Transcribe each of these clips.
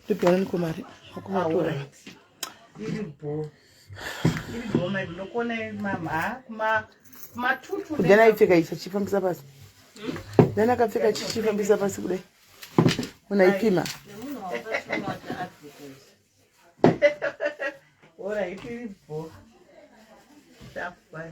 ndipwananiko mari akuvatora kudana aipfeka ichi achifambisa pasi dana akapfeka chichifambisa pasi kudai munhu aipima Ora aí, que bom. Tá, pai.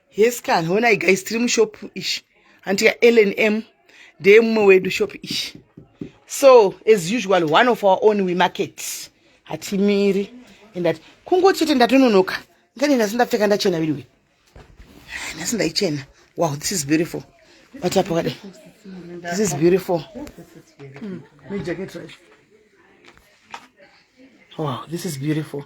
Yes kan, honai guys tiri mushop ishi. Hanti ya LNM ndeye mumwe wedu shop ishi. So as usual one of our own we market. Hatimiri and that kungo chete ndatononoka. Ngani nhasi ndapfeka ndachena viriwe. Nhasi ndaichena. Wow, this is beautiful. What up, what? This is beautiful. Mm. Wow, this is beautiful.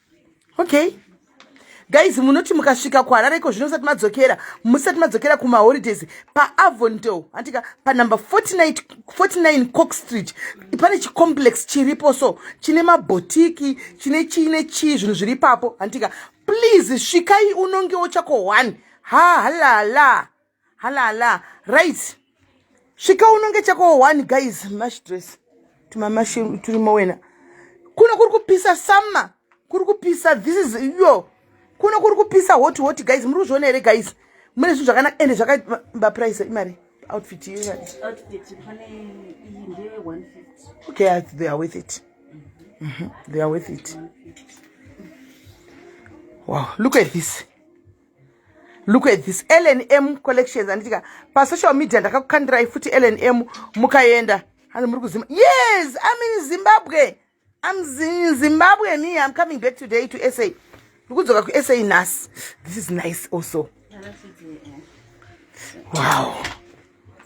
okay guys munoti mukasvika kuharare iko zvino musati madzokera musati madzokera kumaholidays paavondel antika panumber 49 cox street pane chicomplex chiripo so chine mabhotiki chine chii nechii zvinhu zviri ipapo antika please svikai unongewo chako one ha halala halala right svika unonge chako one guys mash dress tumamashi turimo wena kuno kuri kupisa summer kuri kupisa this is yo kuno kuri kupisa hot hot guys muri kuzviona here guys mune zvinhu zvakanaka ende zvakaba price imari outfit iyo imari okay they are with it mm -hmm. they are with it wow look at this look at this lnm collections anditika pasocial media ndakakukandirai futi lnm mukaenda ano muri kuzima yes im in zimbabwe im in zimbabwe me im coming back today to sa ndikudzoka kusa nhasi this is nice also wow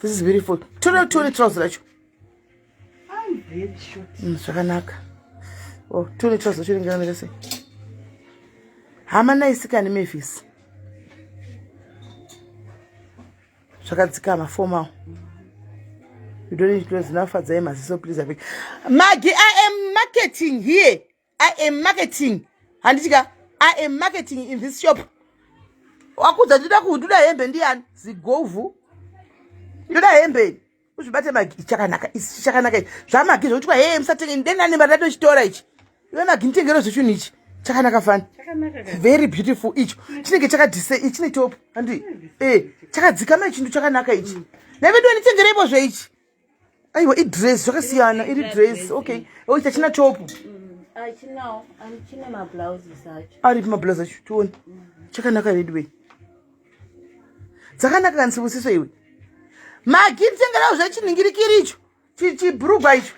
this is beautiful tore tore trouse racho Mm, zvakanaka oh, tune trouser chiringiranira chese hama naisikani mavis zvakadzikama fomawo you don't need to know zinafadzai maziso please abeg magi i am marketing here i am marketing handiti ka i am marketing in this shop wakudza ndida kunduda hembe ndiyani zigovhu ndoda hembe ini uzvibate magi chakanaka isi chakanaka ichi zvamagi zvokutikwa hee musatenge ndenani mari ndatochitora ichi iwe magi nditengero zvechunhu ichi chakanaka fani very beautiful icho chinenge chakadise ichi chine top handi e eh, chakadzikama ichindu chakanaka ichi mm. nevedu nditengereipo zveichi aiwa idress zvakasiyana iri dress okay oh, chachina topu aripi mablouse acho tione chakanaka veduwei dzakanaka kanisibusiso iwe magiri tengerawo zvachiningirikiri icho chibrugwa icho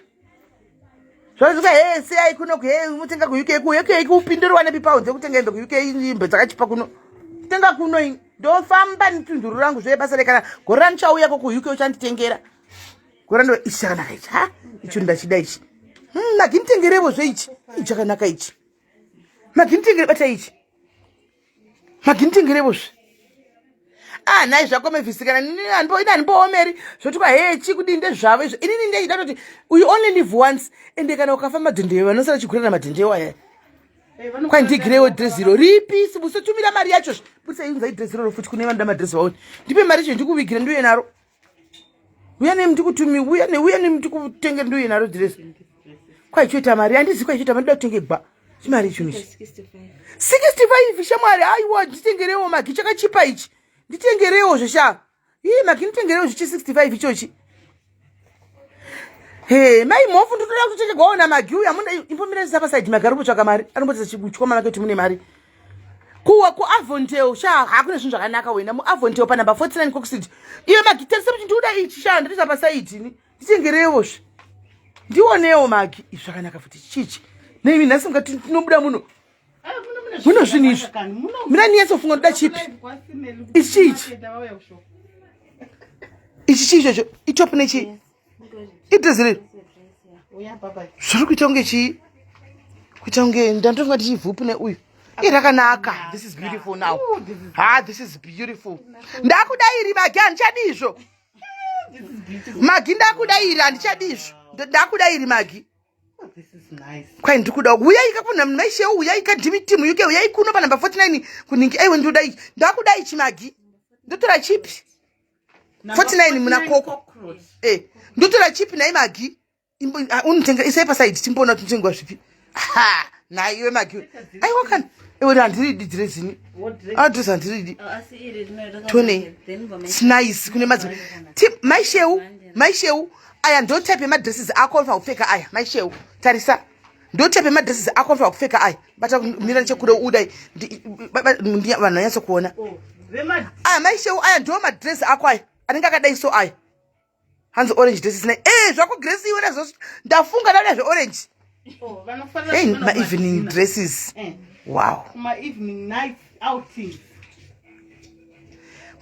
zvakuti hey siyai kuno kuhei mutenga kuuk ku uk ku upinduri wanepi pawo dzekutenga hembe kuuk imbe dzakachipa kuno tenga kuno ini ndofamba nitunduru rangu zvoye basa rekana gore randichauya ko kuuk uchanditengera gore ndo ichi chakanaka ichi ha icho ndachida ichi hmm, maginitengerevo zve ichi ichi chakanaka ichi maginitengere bata ichi maginitengerevo zve ah nhai zvako mevhisikana ine handipoomeri zvoti kwa hee chii kudii ndezvavo izvo inini ndechida toti uyu only live once ende kana ukafa madhindeo vanosara chigurana madhindeo aya eh, kwai ndigirewo dress iro ripi sibusotumira mari yacho zve butsaiunzai dress iroro futi kune vanoda madress vaoni ndipe mari yacho ndikuvigira ndiuye naro uya nemi ndikutumi uya ne uya nemi ndikutenge ndoye naro dress kwaichoita mari andizi kwaichoita mari ndotinge gba chimari icho ichi 65 shamwari aiwa nditengerewo magi chakachipa ichi nditengerewo zvesha ii magi nditengerewo zvichi 65 ichochi he mai mhofu nditoda kutotengerwawo namagi uya munda imbomirezisa pasaidi magi ari kumbotsvaka mari ari kumbotsvaka chikuchwa manake kuti mune mari kuwa kuavontel sha hakune zvinhu zvakanaka wena muavontel panumber 49 coxid iyo magi tarise kuti ndiuda ichi sha ndatoisa pasaidi ni nditengerewo zve ndionewo magi izvi zvakanaka futi chichi neimi nhasi mukati tinobuda muno muno zvinhu izvi mina niyatsofunga ndoda chipi ichi chiichi ichi chii chocho itop nechii yes. idhezi riri zviri kuita kunge chii kuita kunge ndandofunga tichivhupu neuyu iye rakanaka this is beautiful now ha ah, this is beautiful ndakuda iri magi handichadi izvo magi ndakuda iri handichadi izvo ndakuda iri magi oh, kwai ndikuda uyai kakuna mnhu maishe uyai kadimitimu yuke uyai kuno panumber 49 kuningi aiwe ndoda ichi ndakuda ichi magi ndotora chipi 49 muna koko eh ndotora chip nai magi ah, unotenga isai pasaidi timboona kuti notengwa zvipi ha nhai iwe magi aiwa kana iwe handiridi dhirezini adresi handiridi tone snice kune madzi mai sheu mai sheu aya ndotype yemadresses ako afa kupfeka aya mai sheu tarisa ndotype madresses ako anofanira kupfeka aya bata mira nechekude udai vanhu vanyatso kuona oh, aya maishewo aya ndo madress ako aya anenge akadai so aya hanzi orange dresses nai e eh, zvako gresi iwe nazvo ndafunga ndauda zveorange oh, hey maevening dresses eh. wow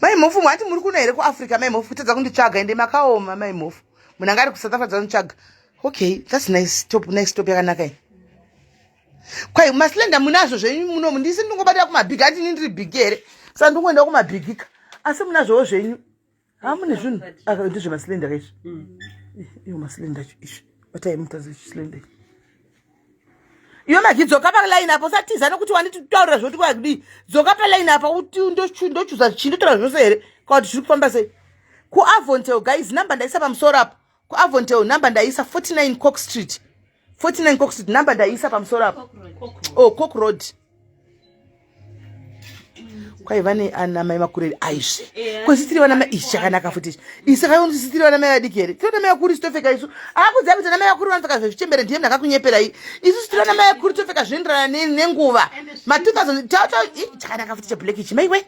mai mhofu mwati muri kuno here kuafrica mai mhofu kutadza kunditsvaga ende makaoma mai mhofu munhu anga ari kusouth africa dzanitsvaga okay thats nice top nice top yakanaka iyi kwai maslenda munazvo zvenyu munomu ndisi ndingobatira kumabhigi ati ini ndiri bhigi here sa ndingoenda kumabhigika asi munazvowo zvenyu hamune zvinhu ndizve maslenda kaizvi mm. iyo maslenda cho izvi batai mutazi chislenda ichi iyo magi dzoka palaini apo usatiza nokuti wanditaurira zvoti kwakudii dzoka palaini apa uti ndochuza chii ndotaura zvose here kwakuti zviri kufamba sei kuavontel guys number ndaisa pamusoro apo kuavontel number ndaisa 49 cock street 49 cock street number ndaisa pamusoro apo oh cock road kwaiva neanamai makureri aizve eh, kwezvisiri vanamai ichi chakanaka futi ichi isi kaioni zvisiri vanamai vadiki here tiri vanamai vakuru isu topfeka isu akuziva kuti anamai vakuru vanopfeka zvezvichembere ndiye mnakakunyeperai isu sitiri vanamai vakuru topfeka zvinoenderana nenguva ma 2000 chakanaka futi cheblack ichi maiwe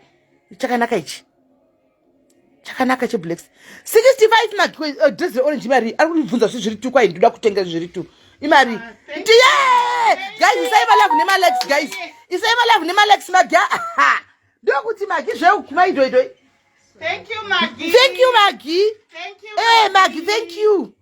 chakanaka ichi chakanaka cheblack 65 madress reorange imari ari kundibvunza zvi zviri two kwai ndinoda kutenga zviri two imari ah, ndiye guys isai malavu nemalikes guys isai malavu nemalikes magia aha ndokuti magi zveukuma idoidoi thank you magi thank you magi thank you magi eh, thank you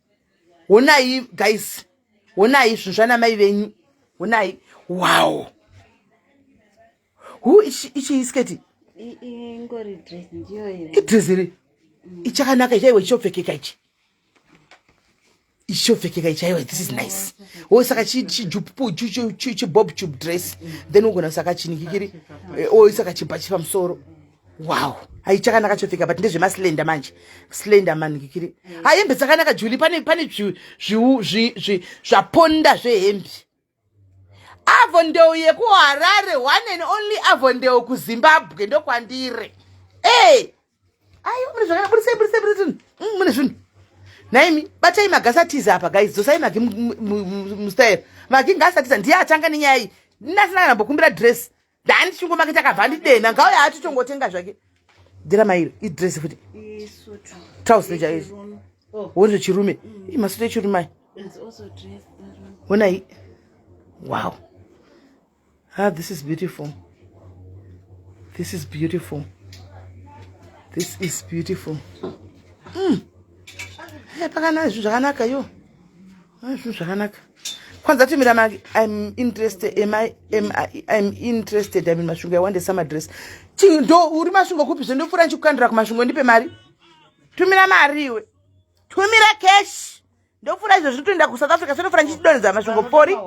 honai guys honai zvinhu zvanamai venyu honai wow hu ichiisketi idreziri ichakanaka chaiwo ichopfekeka ichi ichopfekeka ichaiwa this is nice o saka chijupu chibob tube dress then ugona saka chinikikiri eh, o saka chibhachi pamusoro wow hai chakanaka chopfeka but ndezvemaslender manje slender manikikiri ha hembe dzakanaka juli pane pane zvaponda zvehembe avondeu yekuharare one and only avondeu kuzimbabwe ndokwandire e ai mune zvakaa burisei burisei burisei mm, mune zvinhu naimi batai magasi atiza apa guys dzosai magi mustayero magi ngasi atiza ndiye atanga nenyaya iyi ndasina kana mbokumbira dress Ndani chungu make takabva ndidena ngauya ati tongotenga zvake. Dira mairi idress futi. Isu tu. Trouse ne jaizi. Oh. Wonzo chirume. Mm. Imasuta chirume. It's also dress. When I Wow. Ah this is beautiful. This is beautiful. This is beautiful. Mm. Hey, eh, pakana zvakanaka yo. Ah, zvinhu zvakanaka kwanza timira maki im interested im im interested imin masvingo yawande samadress chii ndo uri masvingo kupi zve ndopfuura ndichikukandira kumasvingo ndipe mari tumira mari iwe tumira cash ndopfuura izvo zviri toenda kusouth africa sendopfuura ndichidonhedza masvingo pori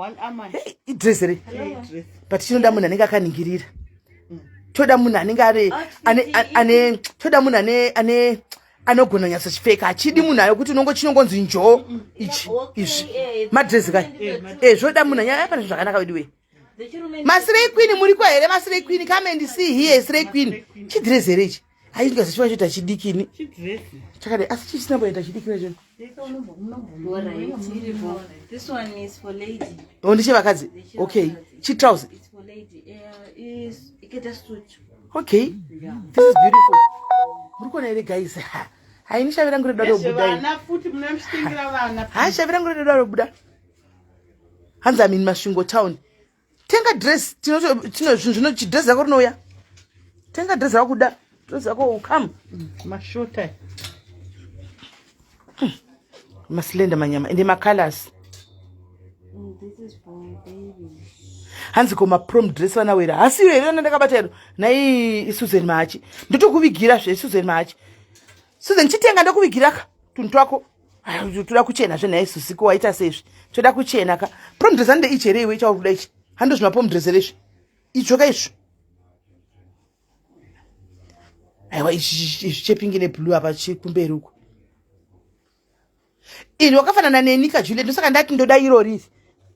idress re but chinoda munhu anenge akaningirira toda munhu anenge ane toda munhu ane ane anogona nyatso chipfeka achidi munhu ayo kuti unongo chinongonzi njoo ichi izvi madrezi kai e zvoda munhu anyaya pane zvakanaka veduwe masirei queen muri kwa here masirei queen come and see here isirei queen chidrezi here ichi aizvikazichiwa choita chidikini chakadai asi chichisina mboita chidikini choo Oh, ndechevakadzi okay chitrouse okay this is beautiful muri kuona here guys haini shavi rangu redoda robudahaa shavi rangu redoda robuda hanzi amini masvingo town tenga dress tino zvino chidress yako rinouya tenga dress yako kuda dress yako ukam mm, mashota mm. maslender manyama ende macolors mm, hanzi ko maprom dress vanawera hasiyo here ana ndakabata iro nai susan mahachi ndotokuvigira zve susan mahachi susan chitenga ndokuvigiraka tunhu twako toda kuchena zve nhai susi ko waita seizvi toda kuchena ka promdresa nde ichi here iwe ichauri kuda ichi hando zvima pomdresere izvi idzvo ka izvi aiwa izvi chepingi neblue apa chikumberi uko ini wakafanana neni ka juliet ndosaka ndati ndoda iro riri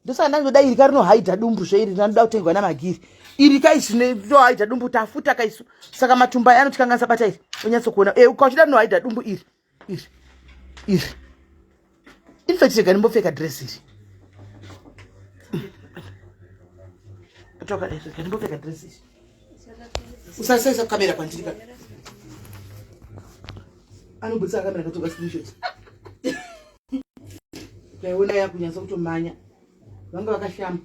ndosaka ndati ndoda iri ka rinohaidha dumbu zve iri ndanoda kutengwa namagiri iri ka isu ndohaidha dumbu tafuta ka isu saka matumba anoti kanganisa bata iri onyatsokuona e eh, ukachida rinohaidha dumbu iri iri iri infact rega ndimbopfeka dress iri toka rega ndimbopfeka dress iri usasaisa kamera kwandiri ka anobudisa kamera katoka screenshot ndaiona yakunyatsa kutomanya vanga vakashamba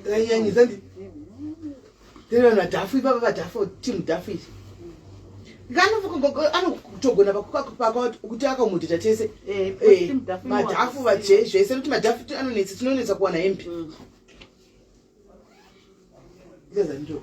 Ndanyanyisa ndi. Tena na dafu baba ba dafu team dafu. Ngano fuko gogo ano kutogona pakuka paka kuti akamudita tese. Eh, eh team dafu. Madafu ba je zvese kuti madafu anonetsa tinonetsa kuwana hempi. Mm. Ndezanjo.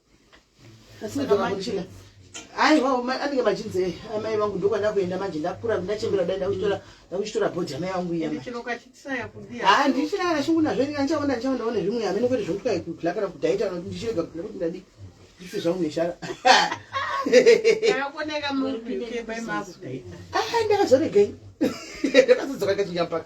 aiwa anenge machinzi eh, amai vangu ndokwana kuenda manje ndakura ndachembera dai ndakuchitora bhodhi amai vangu iyaa ndichina kana shungu nazvo ndika ndichaona ndichaona one zvimwe amene kwete zvokuti kaikukla kana kudaita noti ndichirega kukla kuti ndadi ndife zvangu neshara ndakazoregei ndakazodzoka kachinyapaka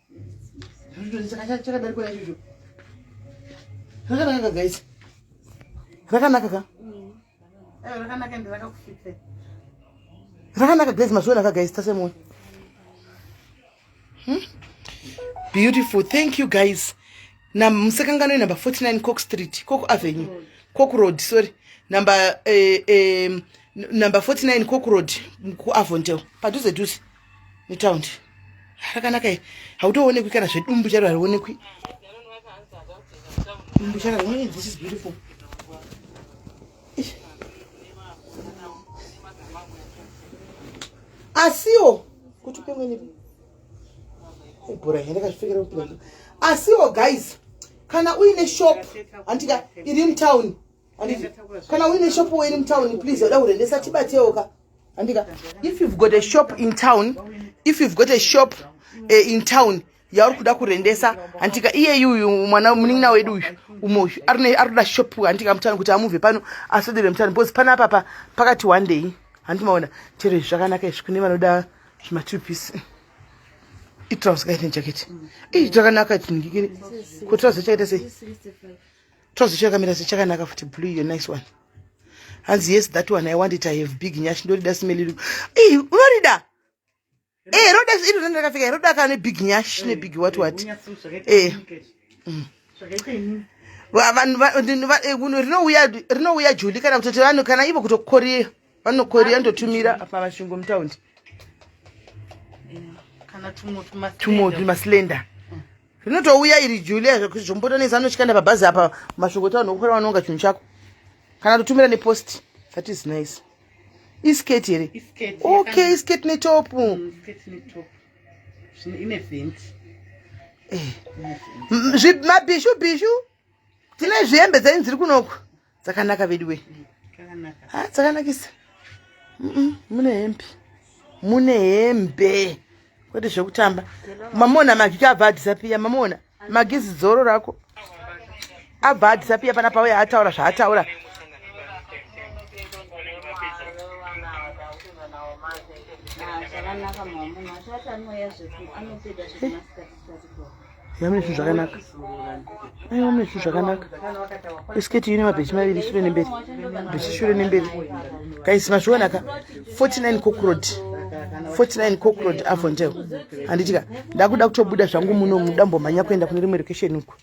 chakadarikwa ichocho rakanaka guys rakanaka ka rakanaka ende rakakufita rakanaka guys mazviona ka guys tasemoyo hmm? beautiful thank you guys na musekangano number 49 cock street cock avenue cock road sorry number eh, eh, number 49 cock road kuavondel padhuze dhuze mutaundi rakanaka iri hautoonekwi kana zvedumbu charo harionekwi dumbu charo harionekwi this is beautiful asiwo kuti upemweni ibhora here ndakazvipfekera kupinda asiwo guys kana uine shop handika iri mutown kana uine shop wo iri mutown please uda kurendesa tibatewoka handika if you've got a shop in town if you've got a shop uh, in town yauri kuda kurendesa handika iyeyi uyu mwana munin'ina wedu uyu umwe uyu ari kuda shop handika mutano kuti amubve pano asodere mutano because pana apapa pakati one day handimaona chero izvi zvakanaka izvi kune vanoda zvimatwo piece itrouse kaite jacket iyi zvakanaka tinhikiri kutirouse chakaita sei Trouser chakamira sechakanaka futi blue iyo nice one. Hanzi yes that one I want it I have big nyash ndorida smell iri. Eh unorida? Eh roda iri renda rakafika roda kana big nyash ne big what what. Eh. Mm. Vanhu eh, rinouya rinouya juli kana kutoti vanhu kana ivo kutokorera. vanokoria ndotumira apa masvingo mutaundi tumwe tumaslender mm. rinotouya iri julia zvekuti zvombotonesa anochikanda pabhazi apa masvingo taunhu okukora vanonga chinhu chako kana totumira nepost that is nice isketi here okay isketi netopu mm, eh. mabhishu bhishu tine zvihembe dzenyu dziri kunoku dzakanaka veduwe ha dzakanakisa mune hembe mune hembe kwete zvekutamba mamona magiki abva adhisapiya mamona magizi dzoro rako abva adhisapiya pana pauya ataura zvaataura yamune zvinhu zvakanaka ai wamune zvinhu zvakanaka isiketi ine mabhechi maviri shure nemberi bhechi shure nemberi kaisi mazvionaka 49 cokrod 49 cokrod avondel handitika ndakuda kutobuda zvangu muno mudambomhanya kuenda kune rimwe location uku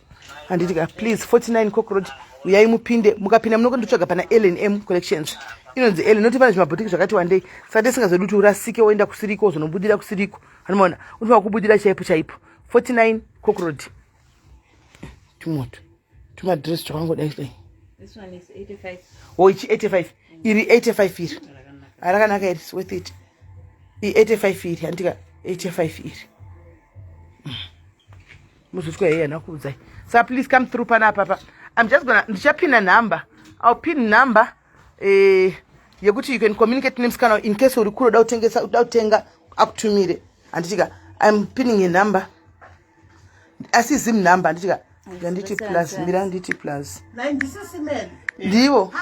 handitika please 49 cokrod uyai mupinde mukapinda munokondotsvaga pana lnm collections inonzi ele noti pane zvimabhotiki zvakati wandei saka tisingazodi kuti urasike woenda kusiriko wozonobudira kusiriko anomaona unofanira kubudira chaipo chaipo 49 cockroad tumoto tumadress twakangodai dai oichi 85 iri 85 iri arakanaka iri worth it i 85 iri handika 85 iri mm. muzotwa yeye anakuudzai sa please come through pana apapa i'm just gona ndichapina number i'll pin number eh, yekuti you can communicate nemusikana in case uri kure uda kutengesa uda kutenga akutumire handitika im pinning a number asi zim number handitika handiti plus mira handiti plus ndivo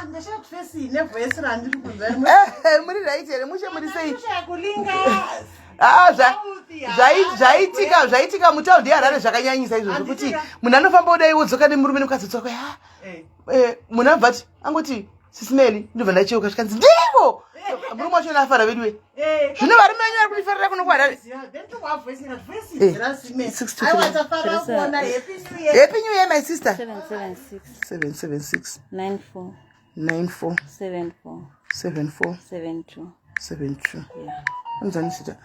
muri right here mushe muri sei zvaitika zvaitika mutaundi yeharare zvakanyanyisa izvo zvekuti munhu anofamba udai wodzoka nemurume nemukadzi dzoka eh, munhu abva ti angoti sisineli ndobva ndacheuka zvikanzi ndivo murume wacho naafara veduwe eh, zvino varume venyu vari kundifarira kuno kuharare happy new year my sister 776947472 anzani sita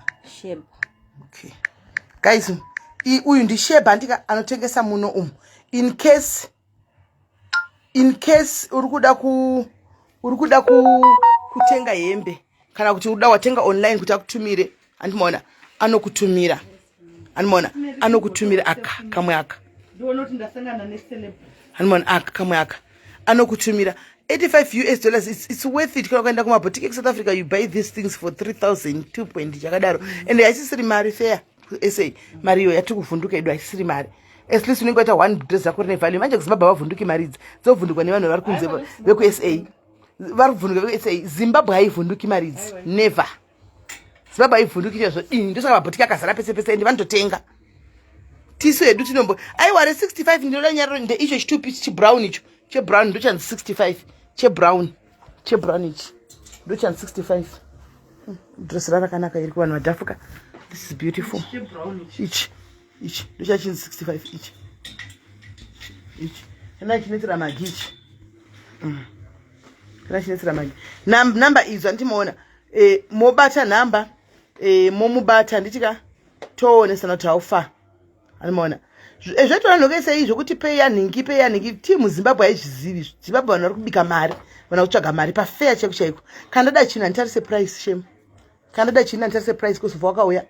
okay guys uyu ndisheba andika anotengesa muno umu in case in case uri kuda ku uri kuda ku kutenga hembe kana kuti uda watenga online kuti akutumire andimoona anokutumira andimoona anokutumira aka kamwe aka andimoona aka kamwe aka anokutumira 85 us dollars it's, it's worth it kana ukaenda kumabotiki ekusouth africa you buy these things for 3000 2 point chakadaro and haisisiri mari fair kusa mari iyo yatiri kuvhunduka edu haisiri mari at least unenge waita one dress rako rine value manje kuzimbabwe havavhunduki mari idzi dzovhundukwa nevanhu vari kunze vekusa vari kuvhunduka vekusa zimbabwe haivhunduki mari idzi never zimbabwe haivhunduki chezvo ini ndosaka mabhotiki akazara pese pese ende vanototenga tisu hedu tinombo aiwa re65 ndinoda nyariro ndeicho chitupi chibrown icho chebrown ndochanzi 65 chebrown chebrown ichi ndochan 65 hmm, dress rarakanaka iri kuvanhu vadhafuka this is beautiful ichi ichi ndochachin 65 ichi ichi kana chinetsera magi ichi hmm. kana chinetsera magi number idzo andimoona eh, mobata number eh, momubata ndichika toonesana kuti how far anomaona eh, zvaitona nhokeisa izvo kuti pei yanhingi pei yanhingi tii muzimbabwe haizvizivi izvo zimbabwe vanhu vari kubika mari vana kutsvaga mari pafeya chaiko chaiko kana ndada chinhu handitarise price shem kana ndada chinhu handitarise price kusova wakauya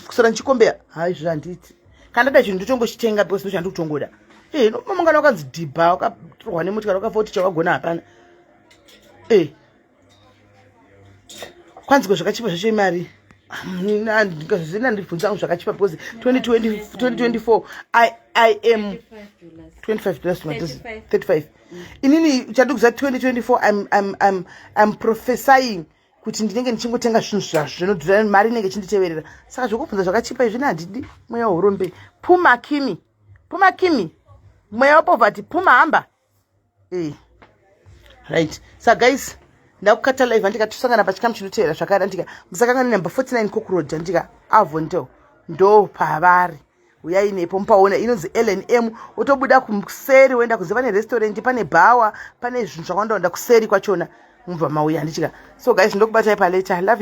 kusora ndichikombeya ha izvo zvandiiti kana ndada chinhu ndotongochitenga because ndochandi kutongoda e eh, nomangana wakanzi dhibha wakatorwa nemuti kana wakafa kuti chawagona hapana e eh. kwanzi ko zvakachipa zvacho imari zvina ndibvunza angu zvakachipa because 2024 i i am 25 dollars to madozi 35 inini chadikuza 2024 im im im im prophesying kuti ndinenge ndichingotenga zvinhu zvazvo zvinodhura mari inenge ichinditeverera saka zvekubvunza zvakachipa izvini handidi mweya wehurombe puma kimi puma kimi mweya wepovhati puma hamba right sa guys ndakukata live andika tosangana pachikamu chinoteera zvakare andika musakangana number 49 kokuroad andika avo ndo ndo pavari uyai nepo mupaona inonzi lnm wotobuda kuseri woenda kunze pane restaurant pane bhawa pane zvinhu zvakawanda wanda kuseri kwachona mubva mauya handichika so guys ndokubatai paleta love you.